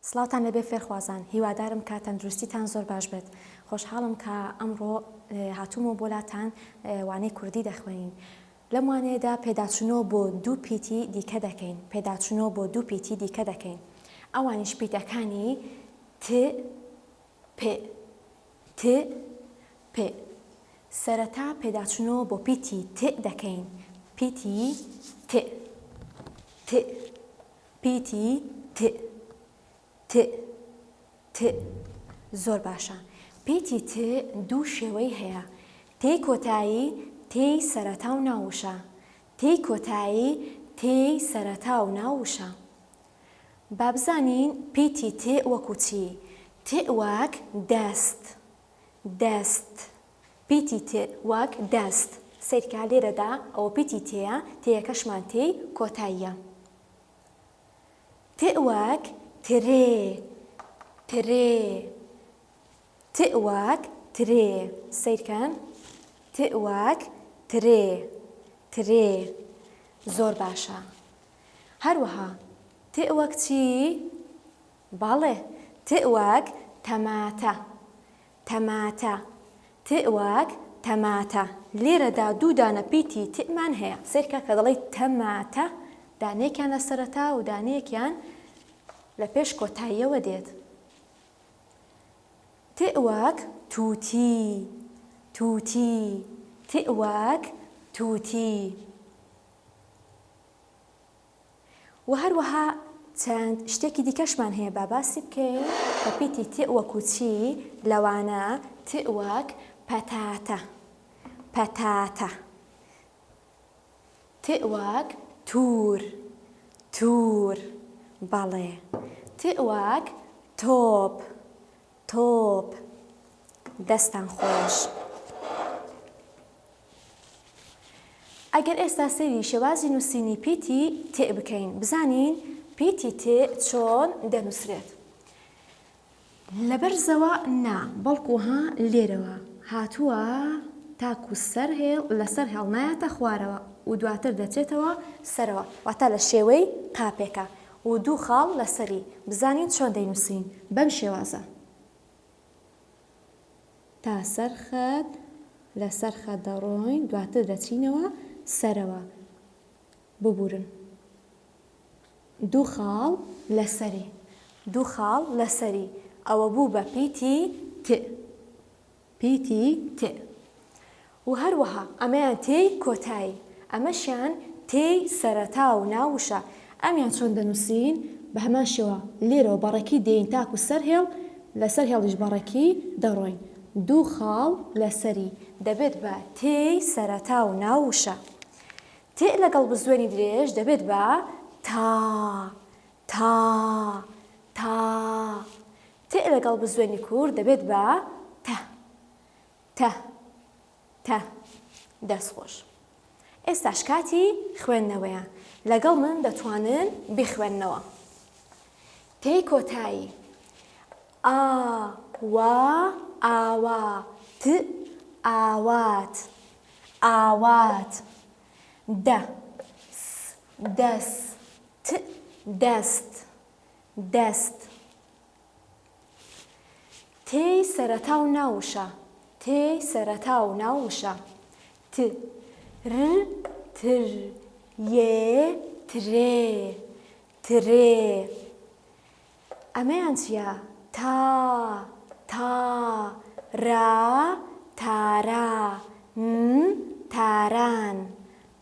سڵاوتان لەبێ فێرخوازان هیوادارم کە تەندروستیتان زۆر باش بێت خۆشحاڵم کە ئەمڕۆ هاتوومەوە بۆلاتان وانەی کوردی دەخوێنین لەم وانەیەدا پێداچنۆ بۆ دوو پیتی دیکە دەکەین پێداچنۆ بۆ دوو پیتی دیکە دەکەین ئەوانیش پیتەکانی ت پ ت پ سەرەتا پێداچوونەوە بۆ پیتی ت دەکەین، پیتی ت ت پیتی ت ت ت زۆر باشە. پیتی ت دوو شێوەی هەیە، تێی کۆتایی، تێی سەرەتا و ناو وشە. تێی کۆتایی، تێی سەرەتا و ناو وشە. با بزانین پیتی تێ وەکوو چی؟ تێ وەک دەست، دەست. پیتی تێ وەک دەست. سەیرکە لێرەدا ئەوە پیتی تێیە، تێیەکەشمان تێی کۆتاییە. تێ وەک ترێ، ترێ. تێ وەک ترێ. سەیرکەن. تێ وەک ترێ، ترێ. زۆر باشە. هەروەها، تئ وەک چی؟ بەڵێ، تئ وەک تەماتە. تەماتە. تئ وەک تەماتە. لێرەدا دوو دانە پیتی تئ مان هەیە. سەیرکە کە دەڵێی تەماتە، دانەیەکیان لە سەرەتا و دانەیەکیان لە پێش کۆتاییەوە دێت. تئ وەک تووتی. تووتی. تئ وەک تووتی. وە هەروەها چەند شتێکی دیکەشمان هەیە با باسی بکەین کە پیتی تئ وەکو چی لەوانە تئ وەک پەتاتە پەتاتە تئ وەک تور تور بەڵێ تئ وەک تۆپ تۆپ دەستان خۆش. ئەگەر ئێستا سەیری شێوازی نووسینی پیتی تئ بکەین بزانین پیتی تئ چۆن دەنووسرێت. لە بەرزەوە نا بەڵکو ها لێرەوە هاتووە تاکو سەر هێڵ لە سەر هێڵ نایەتە خوارەوە و دواتر دەچێتەوە سەرەوە واتا لە شێوەی قاپێکە و دوو خاڵ لەسەری بزانین چۆن دەینووسین بەم شێوازە. تا سەر خەت لەسەر خەت دەڕۆین دواتر دەچینەوە سەرەوە ببورن دوو خاڵ لەسەری دوو خاڵ لەسەری ئەوە بوو بە پیتی ت. پی تی ت و هەروەها ئەمەیان تێی کۆتایی، ئەمەشیان تێی سەرەتا و ناو وشە، ئەمیان چۆن دەنووسین؟ بە هەمان شێوە لێرەوە بە ڕێکی دێین تاکوو سەر هێڵ، لە سەر هێڵیش بە ڕێکی دەڕۆین، دوو خاڵ لە سەری، دەبێت بە تێی سەرەتا و ناو وشە. تێ لەگەڵ بزوێنی درێژ دەبێت بە تا، تا، تا، تئ لەگەڵ بزوێنی کورت دەبێت بە تە تە تە دەست خۆش ئێستاش کاتی خوێندنەوەیە لەگەڵ من دەتوانن بخوێننەوە تێی کۆتایی ئا وا ئاوا ت ئاوات ئاوات دە س دەس ت دەست دەست تێی سەرەتا و ناو وشە تێی سەرەتا و ناو وشە ت ر تر یێ ترێ ترێ ئەمەیان چییە تا تا را تارا تاران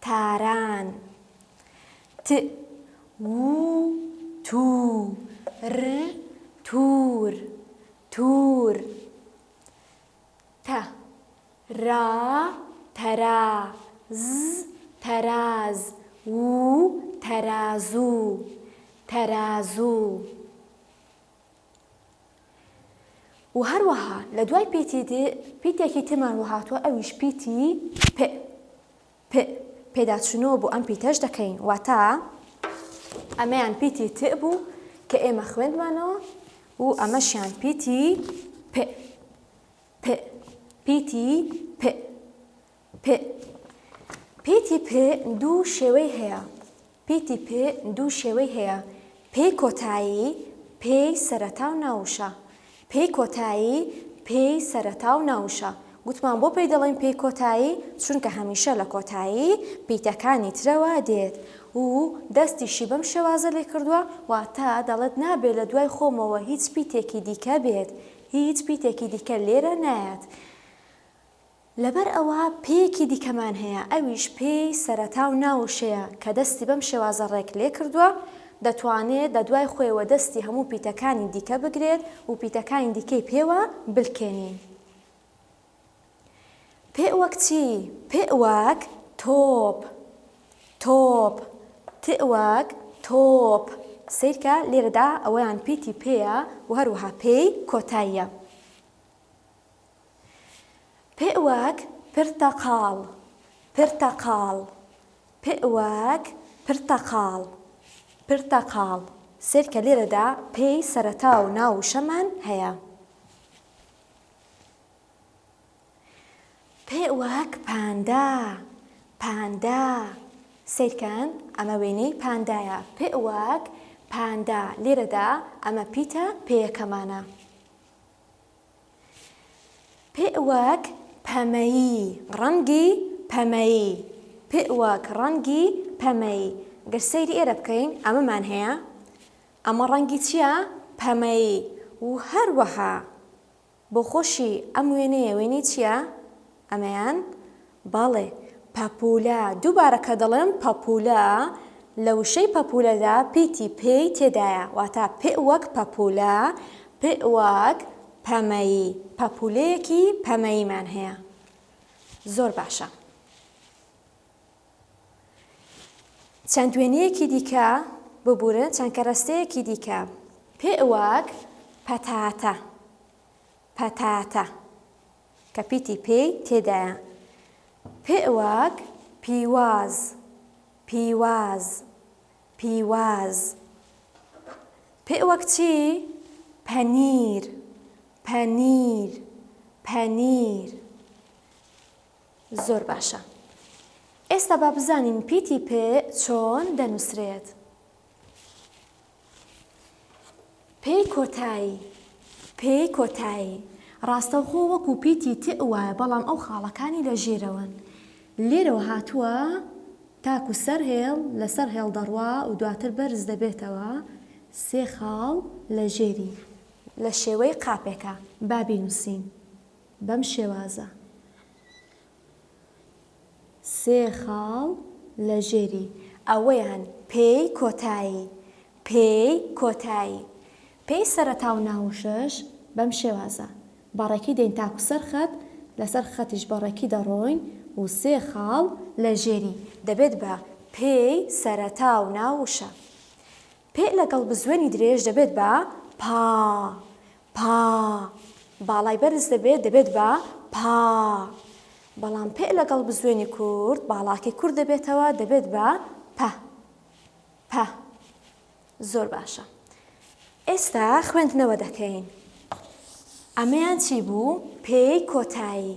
تاران ت و تو ر تور توور ت را ترا ز تراز و ترازو تەرازوو و هەروەها لە دوای پیتی ت پیتێکی ترمان وەهاتووە ئەویش پیتی پ پئ، پێداچوونەوە بۆ ئەم پیتەش دەکەین، واتە ئەمەیان پیتی تئ بوو کە ئێمە خوێندمانەوە و ئەمەشیان پیتی پئ، پئ، پیتی پئ، پئ، پیتی پئ دوو شێوەی هەیە، پیتی پ دوو شێوەی هەیە، پێی کۆتایی، پێی سەرەتا و ناووشە. پێی کۆتایی، پێی سەرەتا و ناووشە. گوتمان بۆ پێی دەڵێین پێی کۆتایی، چونکە هەمیشە لە کۆتایی پیتەکانی ترەوە دێت و دەستیشی بەم شێوازە لێ کردووە، واتە دەڵێت نابێت لە دوای خۆمەوە هیچ پیتێکی دیکە بێت، هیچ پیتێکی دیکە لێرە نایەت. لەبەر ئەوە پێیەکی دیکەمان هەیە ئەویش پێی سەرەتا و ناو و شەیە کە دەستی بەم شێوازە ڕێک لێکردووە، دەتوانێت بە دوای خۆیەوە دەستی هەموو پیتەکانی دیکە بگرێت و پیتەکانی دیکەی پێوە بلکێنین. پئ وەک چی؟ پئ وەک، تۆپ، تۆپ، تئ وەک، تۆپ، سەیرکە لێرەدا ئەوەیان پیتی پێیە و هەروەها پێی کۆتاییە. پ وەک پرتەقاڵ پرتەقاڵ پ وەک پرتەقاڵ پرتەقاڵ سرکە لێرەدا پ ی سەرەتا و ناو وشەمان هەیە. پ وەک پاندا پاندا سەیرکەن ئەمە وێنەی پاندایە پ وەک پاندا لێرەدا ئەمە پیتە پێیەکەمانە. پ وەک پەمەیی، ڕەنگی پەمەیی. پ وەک ڕەنگی پەمەیی. گەر سەیری ئێرە بکەین ئەمەمان هەیە. ئەمە ڕەنگی چییە؟ پەمەیی. و هەروەها بۆخۆشی ئەم وێنەیە وێنەی چییە؟ ئەمەیان بەڵێ، پەپوولە، دووبارە کە دەڵێم پەپوولە، لە وشەی پەپوولەدا پیتی پێ ی تێدایە، واتە پئ وەک پەپوولە، پئ وەک پەمەیی، پەپوولەیەکی پەمەییمان هەیە. زۆر باشە. چەند وێنەیەکی دیکە ببورن، چەند کەرەستەیەکی دیکە. پئ وەک پەتاتە، پەتاتە. کە پیتی پێی تێدایە. پئواک، پیواز، پیواز، پیواز. پئواک چی؟ پەنیر، پەنیر، پەنیر. زۆر باشە. ئێستا با بزانین پیتی پئ چۆن دەنووسرێت. پێی کۆتایی پێی کۆتایی ڕاستەوخۆ وەکو پیتی تئ وایە بەڵام ئەو خاڵەکانی لە ژێرەوەن لێرەوە هاتووە تاکو سەر هێڵ لەسەر هێڵ دەڕوا و دواتر بەرز دەبێتەوە سێ خاڵ لە ژێری لە شێوەی قاپێکە با بینوسین بەم شێوازە. سێ خاڵ لە ژێری ئەوەیان پێی کۆتایی، پێی کۆتایی. پێی سەرەتا و ناوشەش بەم شێوازە، بە ڕێکی دێین تاکو سەر خەت، لە سەر خەتیش بە ڕێکی دەڕۆین و سێ خاڵ لە ژێری دەبێت بە پێی سەرەتا و ناوشە. پئ لەگەڵ بزوێنی درێژ دەبێت بە پا پا، باڵای بەرز دەبێت دەبێت بە پا، بەڵام پئ لەگەڵ بزوێنی کورت باڵاکەی کورت دەبێتەوە دەبێت بە پە پە. زۆر باشە ئێستا خوێندنەوە دەکەین. ئەمەیان چی بوو؟ پێی کۆتایی.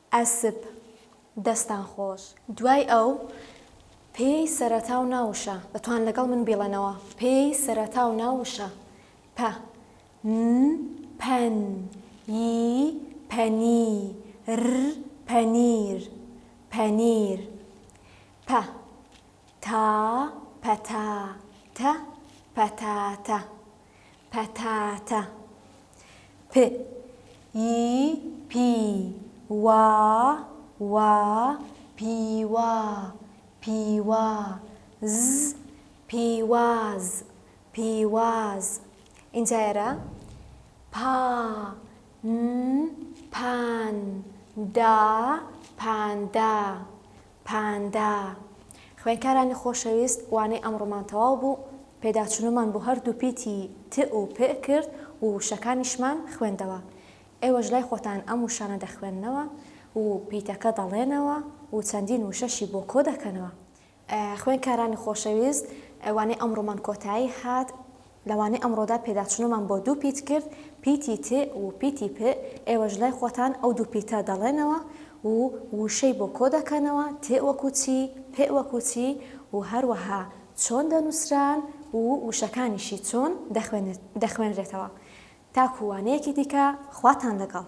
ئەسپ، دەستان خۆش. دوای ئەو پێی سەرەتا و نا وشە، دەتوان لەگەڵ من بیڵێنەوە، پێی سەرەتا و نا وشە، پە، ن، پەن، ی، پەنی، ر، پەنیر، پەنیر، پە، تا، پەتا، تە، پەتاتە، پەتاتە پ ی پی وا وا پیوا پیوا ز پیواز پیواز ئینجا ئێرە پا ن پان دا پاندا پاندا. خوێنکارانی خۆشەویست وانەی ئەمڕۆمان تەواو بوو، پێداچونمان بۆ هەردوو پیتی ت و پ کرد و وشەکانیشمان خوێندەوە. ئێوەش لای خۆتان ئەم وشانە دەخوێننەوە و پیتەکە دەڵێنەوە و چەندین وشەشی بۆ کۆ دەکەنەوە. خوێنکارانی خۆشەویست وانەی ئەمڕۆمان کۆتایی هات. لەوانەی ئەمڕۆدا پێداچونەوەمان بۆ دوو پیت کرد، پیتی ت و پیتی پ، ئێوەش لای خۆتان ئەو دوو پیتە دەڵێنەوە و ووشەی بۆ کۆ دەکەنەوە، ت وەکو چی، پ وەکو چی و هەروەها چۆن دەنوسران و ووشەکانیشی چۆن دەخوێنرێتەوە. تاکو وانەیەکی دیکە خواتان لەگەڵ.